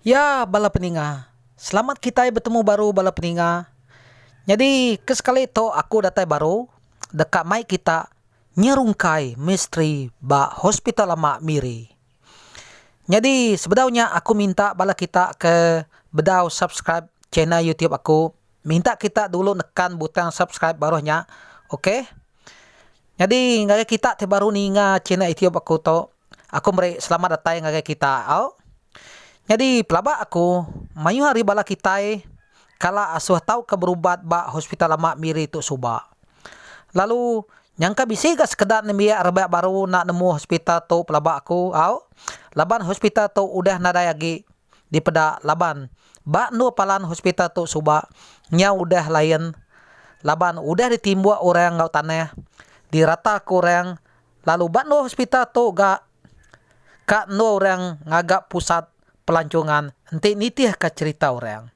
Ya bala peninga, selamat kitai betemu baru bala peninga. Nyadi ke sekali tu aku datai baru deka mai kita nyerungkai misteri ba Hospital Lama Miri. Nyadi sebedau nya aku minta bala kita ke bedau subscribe channel YouTube aku. Minta kita dulu nekan butang subscribe baruh nya ok. Nyadi ngagai kita ti baru ninga channel youtube aku tu aku meri selamat datai ngagai kita au. Nyadi pelaba aku mayuh ari bala kitai kala asuh tauka berubat ba hospital lama Miri tu suba. Lalu nyangka bisi ga sekeda nembiak rebak baru enda nemu hospital tu pelaba aku au laban hospital tu udah nadai agi dipeda laban ba endur palan hospital tu suba nyau udah lain laban udah ditimbuk orang enggau tanah dirataka orang lalu ba endur hospital tu ga ka endur orang ngaga pusat pelancongan enti nitihka cherita orang.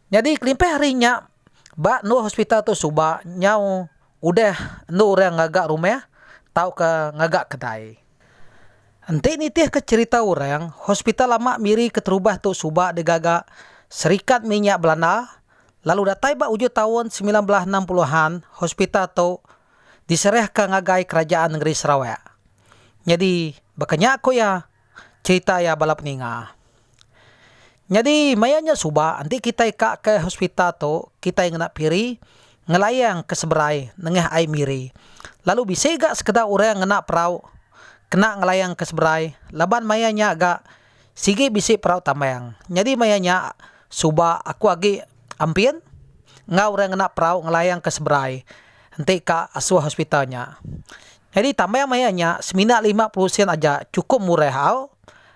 Nyadi kelimpah ari nya ba endur hospital tu suba nyau udah endur orang ngaga rumah tauka ngaga kedai. Enti nitihka cherita orang hospital lama miri keterubah tu suba digaga serikat minya belanda lalu datai ba ujung taun semilan belas enam puluh an hospital tu diserahka ngagai kerajaan nengeri Sarawak. Nyadi baka nya ku iya. Cherita iya bala peninga. Nyadi maya nya suba enti kitai ka ke hospital tu kitai ngena piri ngelayang ke seberai nengah ai miri lalu bisi ga sekeda orang ngena perau kena ngelayang ke seberai laban maya nya ga sigi bisi perau tambang nyadi maya nya suba aku agi ampin enggau orang ngena perau ngelayang ke seberai. enti ka asuh hospital nya. Nyadi tambah meh iya nya semina lima puluh sen aja chukup murah au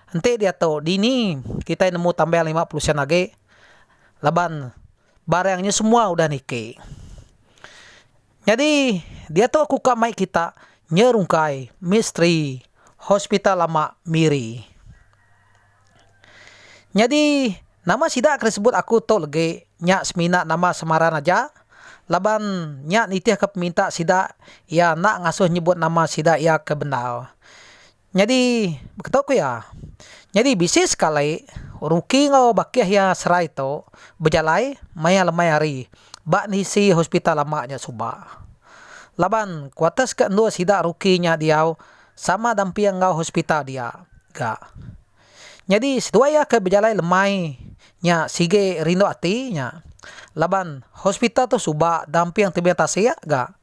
enti diatu dini kitai nemu tambah lima puluh sen agi laban barang nya semua udah niki. Nyadi diatu aku ka mai kita nyerungkai misteri hospital lama Miri. Nyadi, nama sida ke disebut aku tu legi nya semina nama semaran aja laban nya nitihka peminta sida iya enda ngasuh nyebut nama sida iya ke bendar. Nyadi, baka tu ku iya, nyadi bisi sekali orang uki enggau bakih iya serai tu bejalai maya lemai hari ba nisi hospital lama nya suba laban kuarters ke endur sida ruki nya diau. Sama damping enggau hospital dia ga. Nyadi seduai iya ke bejalai lemai nya sigi rindu ati nya laban hospital tu suba damping tebing tasik ga.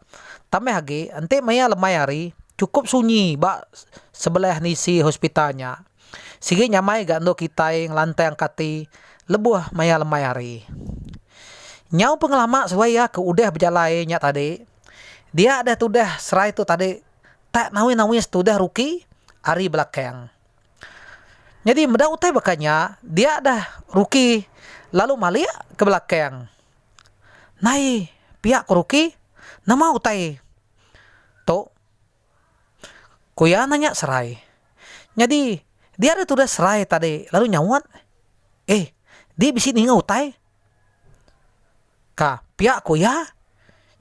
Tambah agi enti maya lemai hari chukup sunyi ba sebelah enda isi hospital nya. Sigi nyamai ga endur kitai ngelantang ka ati lebuh maya lemai hari. Nyau pengelama seduai iya ke udah bejalai nya tadi dia deh tudah serai tu tadi tak nawis-nawis tudah ruki ari belakang. Nyadi meda utai baka nya dia dah ruki lalu malik ke belakang. Nai pia ko ruki nama utai tu ko iya nanya serai. Nyadi dia dah tudah serai tadi lalu nyaut eh di bisi ninga utai. Ka, pia ku iya.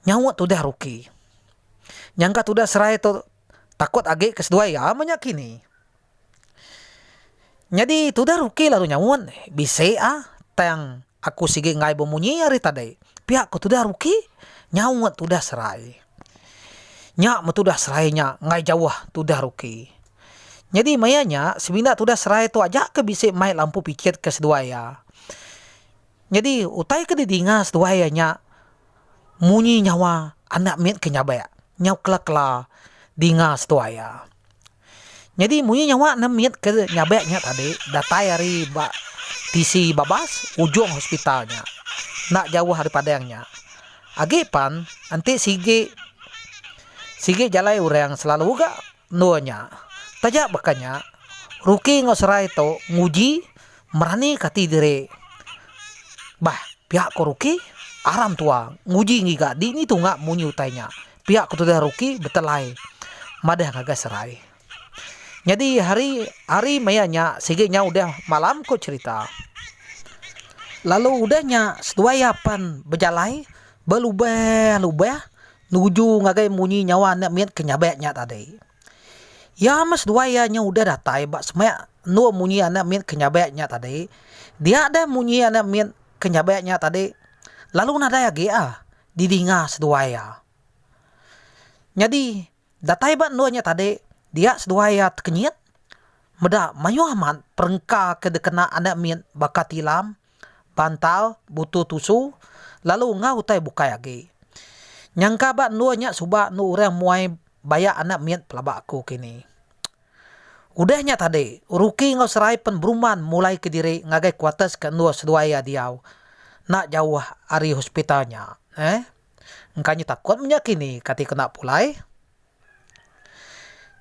Nyaut tudah Ruki. Nyangka tudah serai tu takut agi ke seduai iya meh nya kini. Nyadi tudah Ruki lalu nyaut, Bisi ah, tang aku sigi enggai bemunyi ari tadi. Pia ku tudah Ruki nyaut tudah serai. Nya meh tudah serai nya enggai jauh tudah Ruki. Nyadi maya nya semina tudah serai tu aja ke bisi mai lampu pichit ke seduai iya. Nyadi, utai ke didinga seduai iya nya munyi nyawa anak mit ke nyabek nyau kela-kela dinga seduai iya. Nyadi munyi nyawa ne mit ke nyabek nya tadi datai ari ba tisi babas ujung hospital nya, enda jauh ari padang nya. Agi pan enti sigi sigi jalai orang selalu ga Endur nya. Taja baka nya, Ruki enggau Serai tu nguji meranika ati diri. Bah, pia ko Ruki, aram tua nguji ngiga di ngitu nya munyi utai nya. Pia ko tudah Ruki betelai madah ngagai Serai. Nyadi hari hari maya nya sigi nya udah malam ko cherita. Lalu udah nya seduai iya pan bejalai belubah lubah Nuju ngagai munyi nyawa enda mit ke nyabek nya tadi. Iya meh seduai iya nyau udah datai ba semak endur munyi enda mit ke nyabek nya tadi. Dia deh munyi enda mit ke nyabek nya tadi lalu nadai agi a didinga seduai iya. Nyadi datai ba endur nya tadi dia seduai iya tekenyit meda mayuh amat perengka ke dikena enda mit baka tilam. bantal, butu tusu, lalu enggau utai bukai agi. Nyangka ba endur nya suba endur orang muai bayak anak mit pelaba aku kini. Udah nya tadi, Ruki enggau Serai pen berumban mulai ke diri ngagai kuatas ke endur seduai iya diau enda jauh ari hospital nya. Eeh. Engka nyu takut menya kini kati ku enda pulai.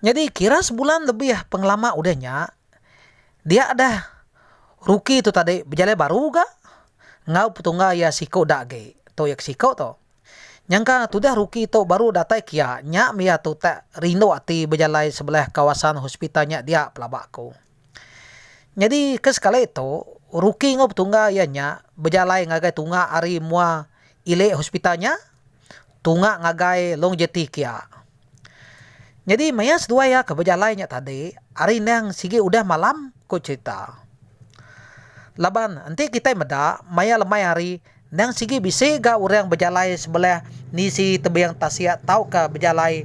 Nyadi kira sebulan lebih pengelama udah nya, dia deh Ruki tu tadi bejalai baru ga enggau petungga iya siku da agi tu iya ke siku tu. Nyangka tudah Ruki tu baru datai ke iya, nya meh iya tu tak rindu ati bejalai sebelah kawasan hospital nya dia pelaba aku. Nyadi ke sekali tu, Ruki enggau petungga iya nya bejalai ngagai tunga ari mua ili hospital nya. tunga ngagai long jeti kia. Nyadi maya seduai iya ke bejalai nya tadi ari endang sigi udah malam, ku cherita. Laban enti kitai meda maya lemai hari endang sigi bisi ga orang bejalai sebelah nisi tebing tasik tauka bejalai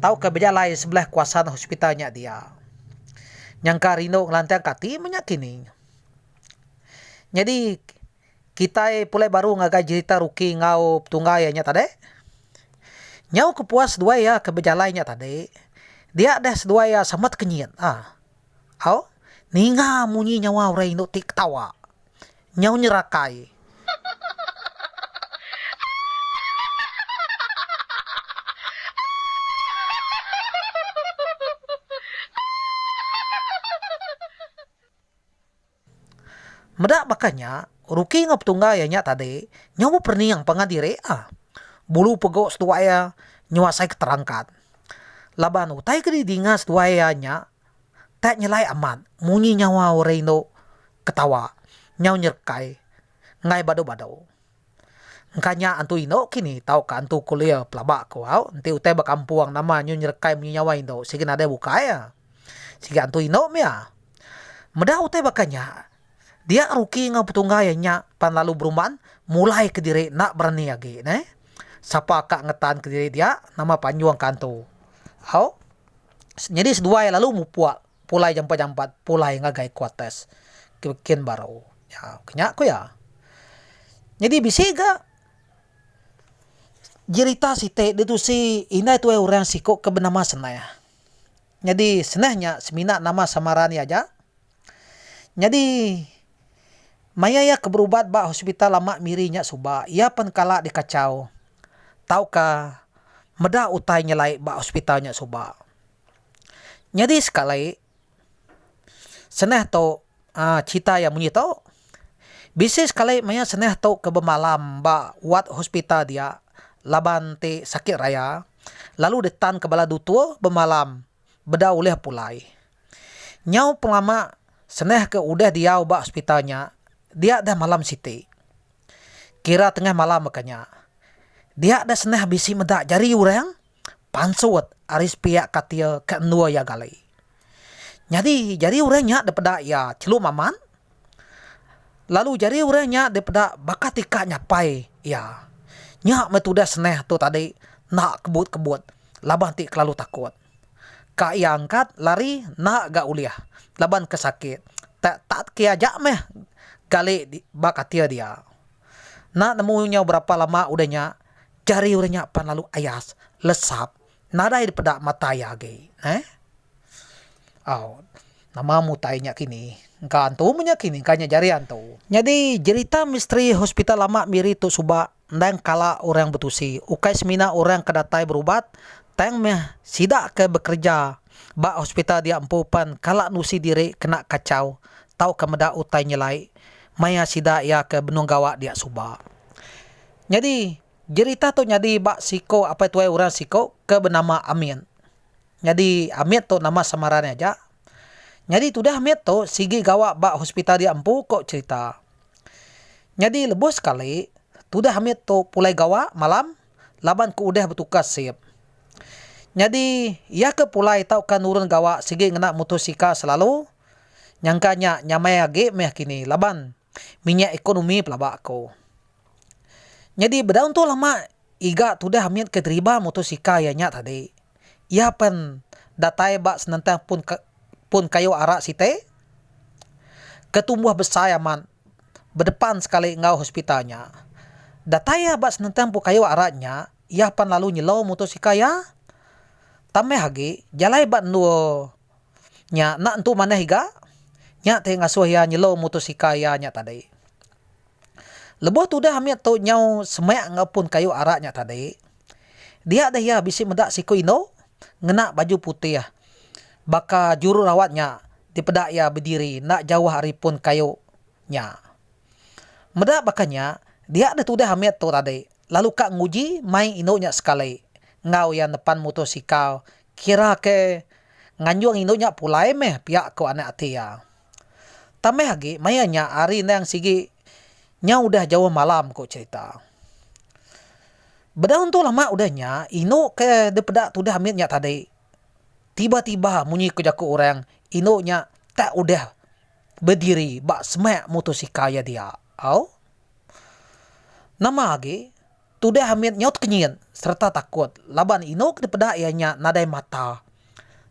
tauka bejalai sebelah kawasan hospital nya dia. Nyangka rindu ngelantangka ati menya kini. Nyadi. Kitai pulai baru ngagai jerita Ruki enggau Petunggai iya nya tadi. Nyau ke puas seduai iya ke bejalai nya tadi, dia deh seduai iya sama tekenyit. Aaa. Au. Ninga munyi nyawa orang indu ti ketawa. Nyau nyerakai. Aaa. Meda baka nya, Ruki enggau petungga iya nya tadi nyau beperening pangan diri iya. Bulu pegu seduai iya nyau asai ke terangkat. Laban utai ke didinga seduai iya nya tak nyelai amat munyi nyawa orang indu ketawa nyau nyerekai. enggai badu-badu. Engka nya antu indu kini tauka antu kulir pelaba ku au enti utai ba kampung nama nyu nyerekai munyi nyawa indu sigi nadai bukai iya. Sigi antu indu mia. Meda utai baka nya dia rugi enggau petungga iya nya pan lalu berumban mulai kediri enda berani agi neh sapa ka ngetan kediri dia nama panjung ka antu. Au nyadi seduai lalu mupuk. Pulai jampat-jampat pulai ngagai kuarters ke kin baru nya. Ke nya ku iya. Nyadi bisi ga jerita siti ditusi indai tuai orang siku ke benama Seneh. Nyadi Seneh nya semina nama samaran iya aja. Nyadi maya iya ke berubat ba hospital lama Miri nya suba, iya pen kala dikachau tauka meda utai nyelai ba hospital nya suba. Nyadi sekali, senah tu cerita iya munyi tu, bisi sekali maya senah tu ke bemalam ba wad hospital dia laban ti sakit raya lalu ditanka bala dutur bemalam beda ulih pulai. Nyau pengelama senah ke udah diau ba hospital nya dia dah malam siti. Kira tengah malam baka nya. Dia dah senah bisi meda jari orang. Pansut ari sepiak katil ke endur iya gali. Nyadi jari orang nya dipeda iya chelu maman lalu jari orang nya dipeda baka ti ka nyapai iya. Nya meh tudah seneh tu tadi enda kebut-kebut laban ti kelalu takut. Ka iya angkat lari enda ga ulih laban ke sakit. Tak tak ke aja meh gali ba katil dia. Enda nemu nyau berapa lama udah nya. Jari orang nya pan lalu ayas, lesap, nadai dipeda mata iya agi. Neh. Au. Nama mutai nya kini. Engka antu meh nya kini, engka nya jari antu. Nyadi, jerita misteri hospital lama Miri tu suba endang kala orang betusi. Ukai semina orang ke datai berubat, tang meh sida ke bekereja ba hospital dia empu pan kala nusi diri kena kachau tauka meda utai nyelai maya sida iya ke benung gawa dia suba. Nyadi, jerita tu nyadi ba siko apai tuai orang siko ke benama Amit. Nyadi, Amit tu nama samaran iya aja. Nyadi tudah Amit tu sigi gawa ba hospital dia empu ko cherita. Nyadi lebuh sekali, tudah Amit tu pulai gawa malam laban ke udah betukar shift. Nyadi, iya ke pulai tauka nurun gawa sigi ngena motosikal selalu, nyangka nya nyamai agi meh kini laban minyak ekonomi pelaba ko. Nyadi bedau entu lama iga tudah amit ke deriba motosikal iya nya tadi. Iya pen datai ba senentang pun pun kayu ara siti ke tumbuh besai amat bedepan sekali enggau hospital nya. Datai iya ba senentang pun kayu ara nya iya pen lalu nyelou motosikal iya tambah agi jalai ba endur Nya enda entu manah iga. Nya ti ngasuh iya nyelum mutus ika iya nya tadi. Lebuh tudah amit tu nyau semak enggau pun kayu arak nya tadi, dia deh iya bisi meda siku indu ngena baju putih baka jururawat nya dipeda iya bediri enda jauh ari pun kayu nya. Meda baka nya, dia deh tudah amit tu tadi lalu ka nguji mai indu nya sekali enggau iya nepan mutus ika Kira ke nganjung indu nya pulai meh pia ko anak ati iya. Tambah agi maya nya hari endang sigi nya udah jauh malam ko cerita. Bedau entu lama udah nya indu ke dipeda tudah mit nya tadi tiba tiba munyi ko jaku orang indu nya tak udah bediri ba semak motosikal iya dia. Au. Nama agi Tudah amit nyaut kenyit sereta takut laban inu ke dipeda iya nya nadai mata,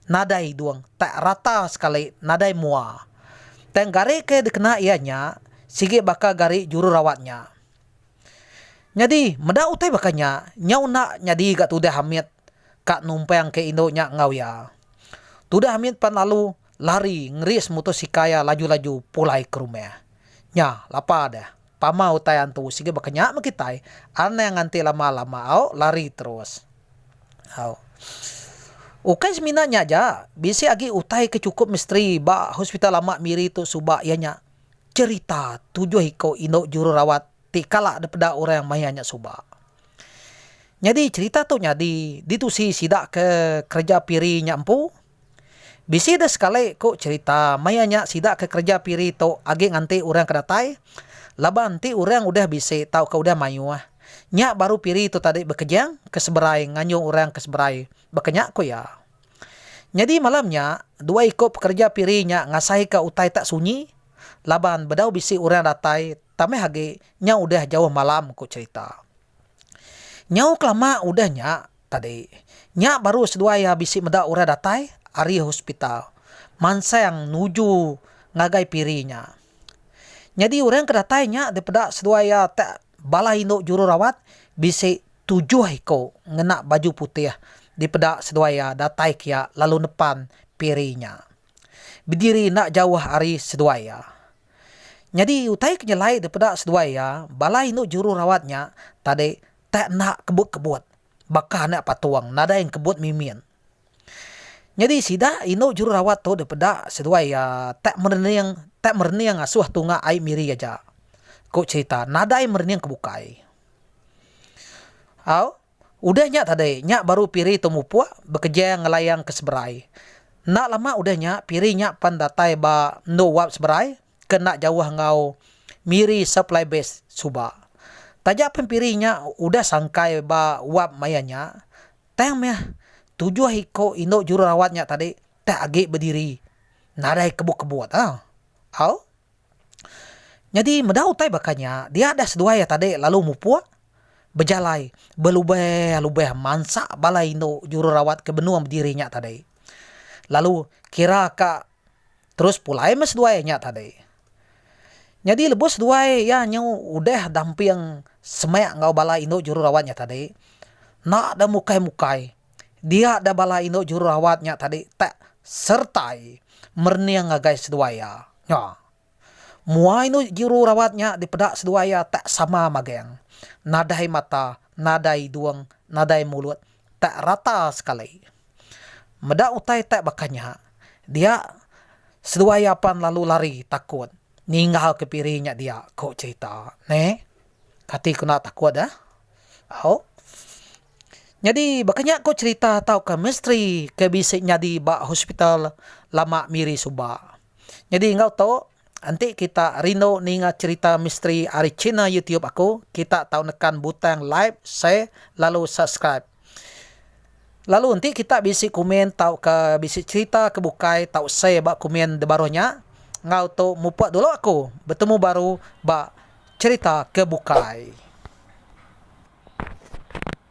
nadai hidung tak rata sekali nadai mua. Tang gari ke dikena iya nya sigi baka gari jururawat nya. Nyadi meda utai baka nya nyau enda nyadi ga tudah amit ka numpang ke indu nya enggau iya. Tudah amit pan lalu lari ngeri semutus ikai iya laju-laju pulai ke rumah. Nya lapa deh. Pama utai antu sigi baka nya meh kitai, anang nganti lama-lama au lari terus. Au. Ukai semina nya aja, bisi agi utai ke chukup misteri ba Hospital Amat Miri tu suba iya nya cherita tujuh iko indu jururawat ti kala dipeda orang maya nya suba. Nyadi cherita tu nyadi ditusi sida ke kereja Piri nya empu. Bisi deh sekali ku cherita maya nya sida ke kereja piri tu agi nganti orang ke datai laban enti orang udah bisi tauka udah mayuh nya baru piri tu tadi bekejang ke seberai nganjung orang ke seberai, baka nya ku iya. Nyadi malam nya dua iku pekereja piri nya ngasahika utai tak sunyi laban bedau bisi orang datai tambah agi nyau udah jauh malam ku cherita. Nyau kelama udah nya Tadi nya baru seduai iya bisi meda orang datai ari hospital mansang nuju ngagai piri nya. Nyadi orang ke datai nya dipeda seduai iya ti bala indu jururawat bisi tujuh iku ngena baju putih dipeda seduai iya datai kiya lalu nepan piri nya bediri enda jauh ari seduai iya. Nyadi utai ke nyelai dipeda seduai iya bala indu jururawat nya tadi tak enda kebut-kebut baka anak patung nadai engkebut mimin. Nyadi sida indu jururawat tu dipeda seduai iya tak merening tak merening asuh tunga ai Miri aja. Ku cherita nadai merening ke bukai. Au udah nya tadi nya baru Piri tu mupuk bekeja ngelayang ke seberai. Enda lama udah nya Piri nya pan datai ba endu wap seberai ke enda jauh enggau Miri Supply Base suba. Taja pen Piri nya udah sangkai ba wap maya nya, tang meh tujuh iku indu jururawat nya tadi teh agi bediri nadai kebut-kebut ah. Au. Nyadi meda utai baka nya, dia deh seduai iya tadi lalu mupuk bejalai belubeh-lubeh mansa bala indu jururawat ke benung bediri nya tadi. Lalu kira ka. Terus pulai meh seduai nya tadi. Nyadi lebuh seduai iya nyu udah damping semak enggau bala indu jururawat nya tadi, enda deh mukai-mukai dia deh bala indu jururawat nya tadi tak sertai merening ngagai seduai iya. Nya. Mua inu juru rawat nya dipeda seduai iya tak sama magang, nadai mata, nadai idung, nadai mulut, tak rata sekali. Meda utai tak baka nya, dia seduai iya pan lalu lari takut ninggal ke piri nya dia, ku cherita ne. Kati kena takut da? Au. Nyadi baka nya ku cherita tauka misteri ke bisi nyadi ba hospital lama Miri suba. Nyadi enggau tu, enti kita rindu ninga cherita misteri ari china youtube aku, kita tau nekan butang live, share lalu subscribe. Lalu enti kita bisi komen tauka bisi cherita ke bukai tau share ba komen debaruh nya. Enggau tu mupuk dulu aku, betemu baru ba cherita ke bukai.